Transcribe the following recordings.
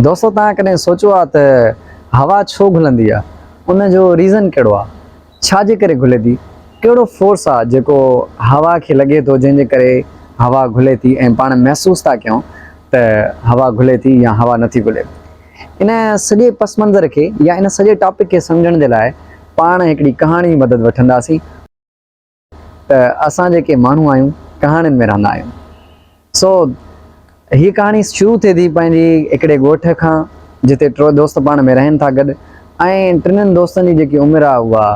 دوستو توهان ڪڏهن سوچيو آهي ته هوا ڇو گهلندي آهي؟ ان جو ريزن ڪهڙو آهي؟ ڇا جي ڪري گهلي ٿي؟ ڪهڙو فورس آهي جيڪو هوا کي لڳي ٿو جنهن جي ڪري هوا گهلي ٿي ۽ پاڻ محسوس ٿا ڪيون ته هوا گهلي ٿي يا هوا نٿي گهلي؟ ان سڄي پس منظر کي يا ان سڄي ٽاپڪ کي سمجهڻ جي لاء پاڻ هڪڙي ڪهاڻي جي مدد وٺنداسين. ته اسان جيڪي ماڻهو آهيون ڪهاڻين ۾ رهندا آهيون سو هي ڪهاڻي شروع ٿئي ٿي پنهنجي هڪڙي ڳوٺ کان جتي ٽو دوست پاڻ ۾ رهن ٿا گڏ ۽ ٽنهن دوستن جي جيڪي عمر آهي اها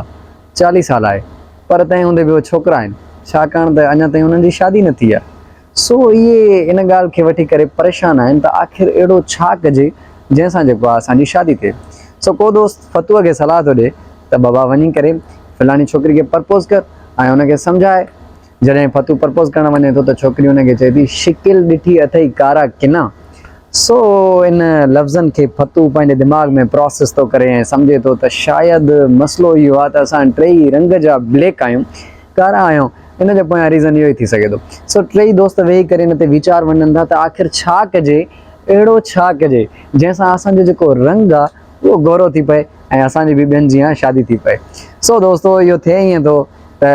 چاليهه سال آهي پر تنهن هوندي به اهي ڇوڪرا آهن ڇاڪاڻ ته اڃا تائين انهن جي شادي نه ٿي آهي سو اهي ان ڳالهه کي وٺي ڪري پريشان آهن ته آخر اهڙو ڇا ڪجي جنهن سان جيڪو آهي اسان جي شادي ٿئي. سو ڪو دوست فتوح کي صلاح ٿو ڏي ته بابا وڃي ڪري فلاڻي ڇوڪري کي پرپوز ڪر ۽ ان کي سمجهاء. جڏهن فتوح پرپوز ڪرڻ وڃي ٿو ته ڇوڪري ان کي چئي ٿي شڪل ڏٺي اٿئي ڪارا ڪنا. سو ان لفظن کي فتوح پنهنجي دماغ ۾ پراسيس ٿو ڪري ۽ سمجهي ٿو ته شايد مسئلو اهو آهي ته اسان ٽيئي رنگ جا بليڪ آهيون ڪارا آهيو ان جو پويان ريزن اهو ئي ٿي سگهي ٿو سو ٽيئي دوست ويهي ڪري ان تي ويچار ونڊن ٿا ته آخر ڇا ڪجي اهڙو ڇا ڪجي جنهن سان اسان جو جيڪو رنگ آهي اهو گورو ٿي پئي ۽ اسان جي به ٻين جيان شادي ٿي پئي سو دوستو اهو ٿئي ائين ٿو ته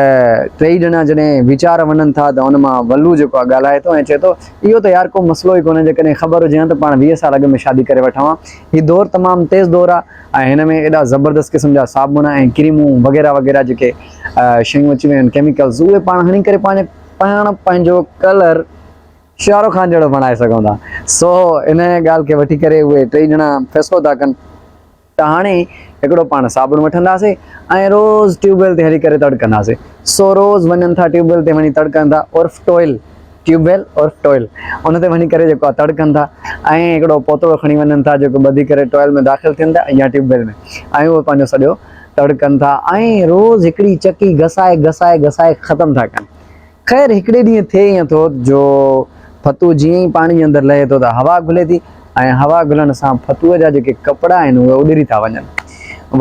ٽيئي ڄڻا جڏهن ويچار ونڊن ٿا ته ان مان ولو جيڪو آهي ڳالهائي ٿو ۽ چئي ٿو اهو ته يار ڪو مسئلو ئي ڪونهي جيڪڏهن خبر هجي ها ته پاڻ ويهه سال اڳ ۾ شادي ڪري وٺان ها هي دور تمام تيز دور آهي ۽ هن ۾ ايڏا زبردست قسم جا صابڻ ۽ ڪريمون وغيره وغيره جيڪي شيون اچي ويون آهن ڪيميڪلز اهي پاڻ هڻي ڪري پنهنجي پاڻ پنهنجو ڪلر شارو خان جهڙو بڻائي سگهون ٿا سو ان ڳالهه کي وٺي ڪري اهي ٽئي ڄڻا فيصلو ٿا ڪن ته هاڻي هڪڙو پاڻ صابڻ وٺنداسي ۽ روز ٽيوب ويل تي هلي ڪري تڙڪنداسي سو روز وڃن ٿا ٽيوب ويل تي وڃي تڙڪن ٿا عرف ٽوئل ٽيوب ويل عرف ٽوئل ان تي وڃي ڪري جيڪو آهي تڙ ڪن ٿا ۽ هڪڙو پوتڙو کڻي وڃن ٿا جيڪو ٻڌي ڪري ٽوئل ۾ داخل ٿين ٿا يا ٽيوب ويل ۾ ۽ اهو پنهنجو سڄو تڙ ڪن ٿا ۽ روز هڪڙي چڪي گسائي گسائي گسائي ختم ٿا ڪن خير هڪڙي ڏينهن ٿئي ائين ٿو جو ڦتو جيئن ئي پاڻي جي اندر لهي ٿو ته هوا گهلي ٿي ۽ هوا گهلڻ سان ڦتوء جا جيڪي ڪپڙا آهن اهي اڏري ٿا وڃن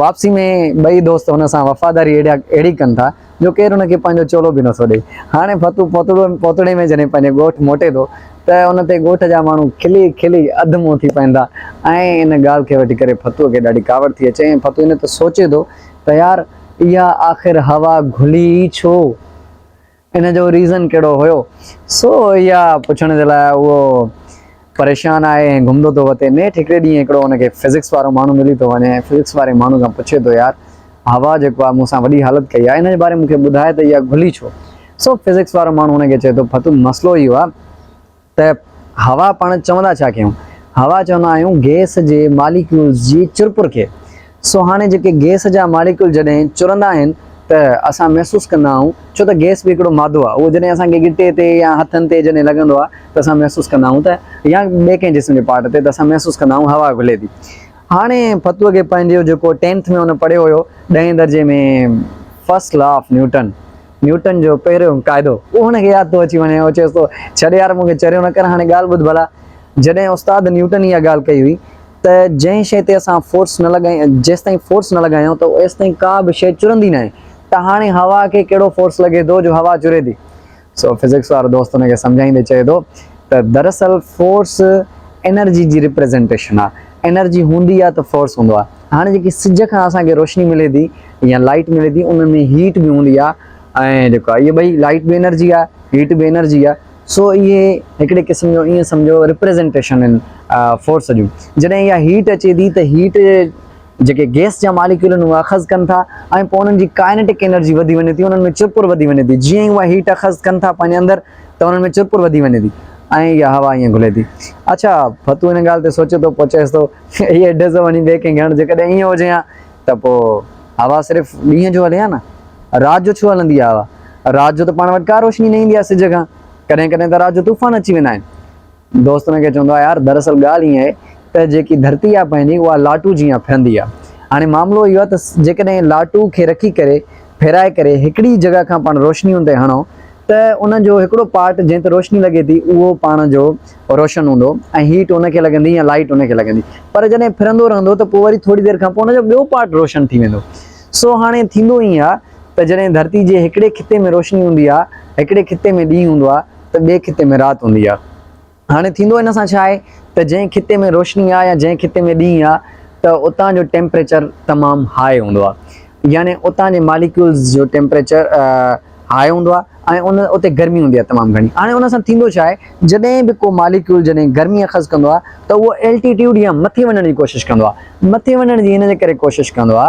واپسي ۾ ٻئي دوست هن سان وفاداري اهڙي ڪن ٿا جو ڪير ان کي پنهنجو چولو به نٿو ڏئي. هاڻي ڦتو پوتڙي ۾ جڏهن پنهنجي ڳوٺ موٽي ٿو ته ان تي ڳوٺ جا ماڻهو کلي کلي اڌ منهن ٿي پوندا ۽ ان ڳالهه کي وٺي ڪري ڦتوء کي ڏاڍي ڪاوڙ ٿي اچي ۽ ڦتو ان تي سوچي ٿو ته يار اها آخر هوا گهلي ئي ڇو؟ ان جو ريزن ڪهڙو هيو؟ سو اها پڇڻ جي لاء اهو پريشان آهي ۽ گهمندو ٿو وتي نيٺ هڪڙي ڏينهن هڪڙو ان کي فزڪس وارو ماڻهو ملي ٿو وڃي ۽ فزڪس واري ماڻهو کان پڇي ٿو يار هوا جيڪو آهي مون سان وڏي حالت ڪئي آهي ان جي باري ۾ مون کي ٻڌاء ته اها گهلي ڇو سو فزڪس وارو ماڻهو هن کي چئي ٿو ڦتو مسئلو اهو آهي ته هوا پاڻ چوندا ڇا ڪيون هوا چوندا آهيون گئس جي ماليڪيولز جي چرپر کي سو هاڻي جيڪي گئس جا ماليڪيول جڏهن چرندا آهن ته اسان محسوس ڪندا آهون ڇو ته گئس به هڪڙو مادو آهي اهو جڏهن اسان کي ڳٽي تي يا هٿن تي جڏهن لڳندو آهي ته اسان محسوس ڪندا آهون ته يا ٻئي ڪنهن جسم جي پارٽ تي ته اسان محسوس ڪندا آهون هوا گهلي ٿي هاڻي ڦتوء کي پنهنجو جيڪو ٽينٿ ۾ هن پڙهيو هيو ڏهين درجي ۾ first law of Newton Newton جو پهريون قاعدو اهو هن کي ياد ٿو اچي وڃي. هو چيس ٿو، ڇڏ يار مون کي چريو نه ڪر، هاڻي ڳالهه ٻڌ ڀلا. جڏهن استاد نيوٽن اها ڳالهه ڪئي هئي ته جنهن شيء تي اسان فورس نه لڳايون جيستائين فورس نه لڳايون ته ايستائين ڪا به شيء چرندي ناهي ته هاڻي هوا کي ڪهڙو فورس لڳي ٿو جو هوا چري ٿي. سو فزڪس وارو دوست هن کي سمجهائيندي چئي ٿو ته دراصل فورس انرجي جي ريپريزنٽيشن آهي. انرجي هوندي آهي ته فورس هوندو آهي. هاڻي جيڪي سج کان اسان کي روشني ملي ٿي يا لائيٽ ملي ٿي انهن ۾ هيٽ به هوندي آهي ۽ جيڪو آهي اهي ٻئي لائيٽ به انرجي آهي هيٽ به انرجي آهي سو اهي هڪڙي قسم جو ائين سمجهو ريپريزنٽيشن آهن فورس جون جڏهن اها هيٽ اچي ٿي ته هيٽ جيڪي گيس جا ماليڪيول آهن اهي اخذ ڪن ٿا ۽ پوء انهن جي ڪائنيٽڪ انرجي وڌي وڃي ٿي انهن ۾ چرپر وڌي وڃي ٿي جيئن ئي اها هيٽ اخذ ڪن ٿا پنهنجي اندر ته انهن ۾ چرپر وڌي وڃي ٿي ۽ اها هوا ائين گهلي ٿي اڇا فتوح ان ڳالهه تي سوچي ٿو پوء چئيس ٿو هي ڊز وڃي ٻئي ڪنهن کي هڻ جيڪڏهن ائين هجي ها ته پوء هوا صرف ڏينهن جو هلي ها نه رات جو ڇو هلندي آهي هوا رات جو ته پاڻ وٽ ڪا روشني نه ايندي آهي سج کان ڪڏهن ڪڏهن ته رات جو طوفان اچي ويندا آهن دوستن کي چوندو آهي يار دراصل ڳالهه ائين آهي ته جيڪي ڌرتي آ پنهنجي اها لاٽو جيان ڦرندي آ هاڻي معاملو اهو آ ته جيڪڏهن لاٽو کي رکي ڪري ڦيرائي ڪري هڪڙي جڳهه کان پاڻ روشني ان تي هڻو ته ان جو هڪڙو پارٽ جنهن تي روشني لڳي ٿي اهو پاڻ جو روشن هوندو ۽ هيٽ ان کي لڳندي يا لائيٽ ان کي لڳندي پر جڏهن ڦرندو رهندو ته پوء وري ٿوري دير کان پوء ان جو ٻيو پارٽ روشن ٿي ويندو سو هاڻي ٿيندو ائين آهي ته جڏهن ڌرتي جي هڪڙي خطي ۾ روشني هوندي آهي هڪڙي خطي ۾ ڏينهن هوندو آهي ته ٻئي خطي ۾ رات هوندي آهي هاڻي ٿيندو ان سان ڇا آهي ته جنهن خطي ۾ روشني آ يا جنهن خطي ۾ ڏينهن آ ته اتان جو ٽيمپريچر تمام هاء هوندو آ يعني اتان جي ماليڪيولز جو ٽيمپريچر هاء هوندو آ ۽ ان اتي گرمي هوندي آ تمام گهڻي هاڻي ان سان ٿيندو ڇا آهي جڏهن به ڪو ماليڪيول جڏهن گرمي اخذ ڪندو آ ته اهو الٽيٽيوڊ يا مٿي وڃڻ جي ڪوشش ڪندو آ مٿي وڃڻ جي ان جي ڪري ڪوشش ڪندو آ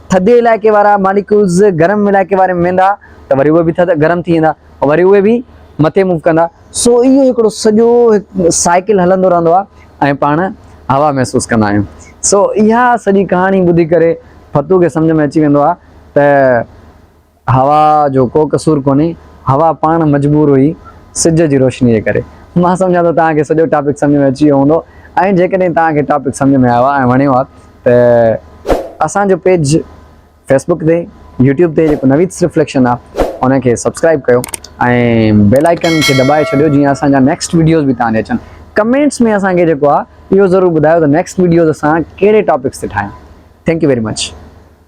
ٿڌي علائقي وارا ماليڪيولز گرم علائقي واري ۾ ويندا ته وري اهي به ٿڌ گرم ٿي ويندا وري اهي به مٿي موو ڪندا سو اهو هڪڙو سڄو سائيڪل هلندو رهندو آهي ۽ پاڻ هوا محسوس ڪندا آهيون سو اها سڄي ڪهاڻي ٻڌي ڪري فتوح کي سمجهه ۾ اچي ويندو آهي ته هوا جو ڪو قصور ڪونهي، هوا پاڻ مجبور هئي سج جي روشني جي ڪري. مان سمجهان ٿو توهان کي سڄو ٽاپڪ سمجهه ۾ اچي ويو هوندو ۽ جيڪڏهن توهان کي ٽاپڪ سمجهه ۾ آيو آهي ۽ وڻيو آهي ته اسان جو پيج فيسبڪ تي يوٽيوب تي جيڪو نويدس رفليڪشن آهي ان کي سبسڪرائب ڪيو ۽ بيل آئيڪن کي دٻائي ڇڏيو جيئن اسان جا نيڪسٽ ويڊيوز به توهان ڏي اچن. ڪمينٽس ۾ اسان کي جيڪو آهي اهو ضرور ٻڌايو ته نيڪسٽ ويڊيوز اسان ڪهڙي ٽاپڪس تي ٺاهيون. Thank you very much.